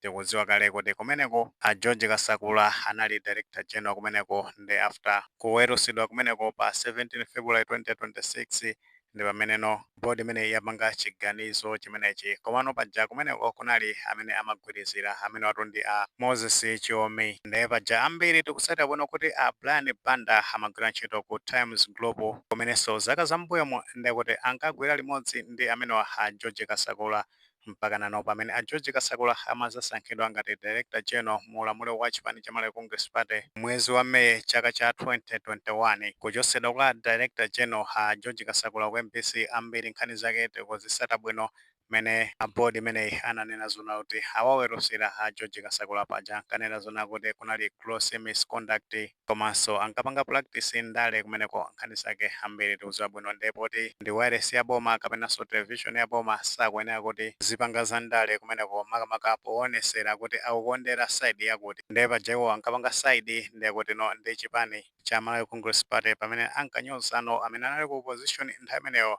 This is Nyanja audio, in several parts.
tikuziwa kale kuti kumeneko a George Kasakula anali Director General kumeneko nde after kuwelusidwa kumeneko pa 17 February 2026 ndipameneno Board imeneyi yapanga chiganizo chimenechi komano paja kumeneko kunali amene amagwilizila amenewatu ndi a Moses Chiomi nde paja ambiri tikusata bwino kuti a Brian Banda amagwila ntchito ku Times Group kumenenso zaka zambuyomu ndekuti ankagwila limodzi ndi amenewa a George Kasakula Mpakana nano pamene a George Kasakula amazasankhidwa ngati Director General mu ulamuliro wa chipani cha Malawi Congress Party mwezi wa May chaka cha 2021. Kuchosedwa kwa Director General a George Kasakula ku mbc ambiri nkhani zake tikuzisata bwino mmene a Board imeneyi ananena zonena kuti awawelusila a George Kasakula paja ankanena zonena kuti kunali gross misconduct komanso ankapanga practice ndale kumeneko nkhani zake ambiri tikuziwa bwino nde poti ndi wailesi ya boma kapenanso television ya boma sakuyenera kuti azipanga za ndale kumeneko makamaka powonesera kuti akukondera side yakuti nde paja iwo ankapanga side ndekuti no ndi chipani cha Malawi Congress Party pamene ankanyozano amene anali ku opposition nthawi imeneyo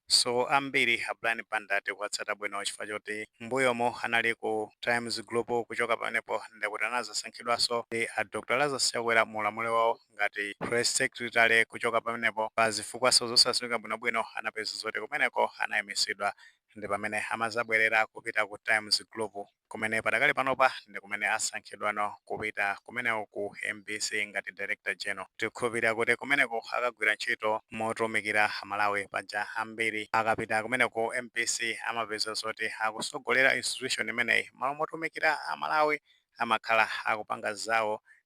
So ambiri a Brian Banda tikuwatsata bwino chifukwa choti mmbuyomu anali ku Times Group kuchoka pamenepo ndekuti anazasankhidwaso ndi a Dr Lazarus Chakwera mu ulamuliro wawo ngati Press Secretary kuchoka pamenepo pa zifukwaso zosaziwika bwino bwino anapezeka zoti kumeneko anaimisidwa ndipamene amazabwerera kupita ku Times Group. kumene padakali panopa ndi kumene asankhidwano kupita kumeneko ku mbc ngati Director General. Tikukhulupirira kuti kumeneko akagwira ntchito motumikira Amalawi. Paja ambiri akapita kumeneko ku mbc amapeza zoti akusogolera institution imeneyi mmalo motumikira Amalawi amakhala akupanga zawo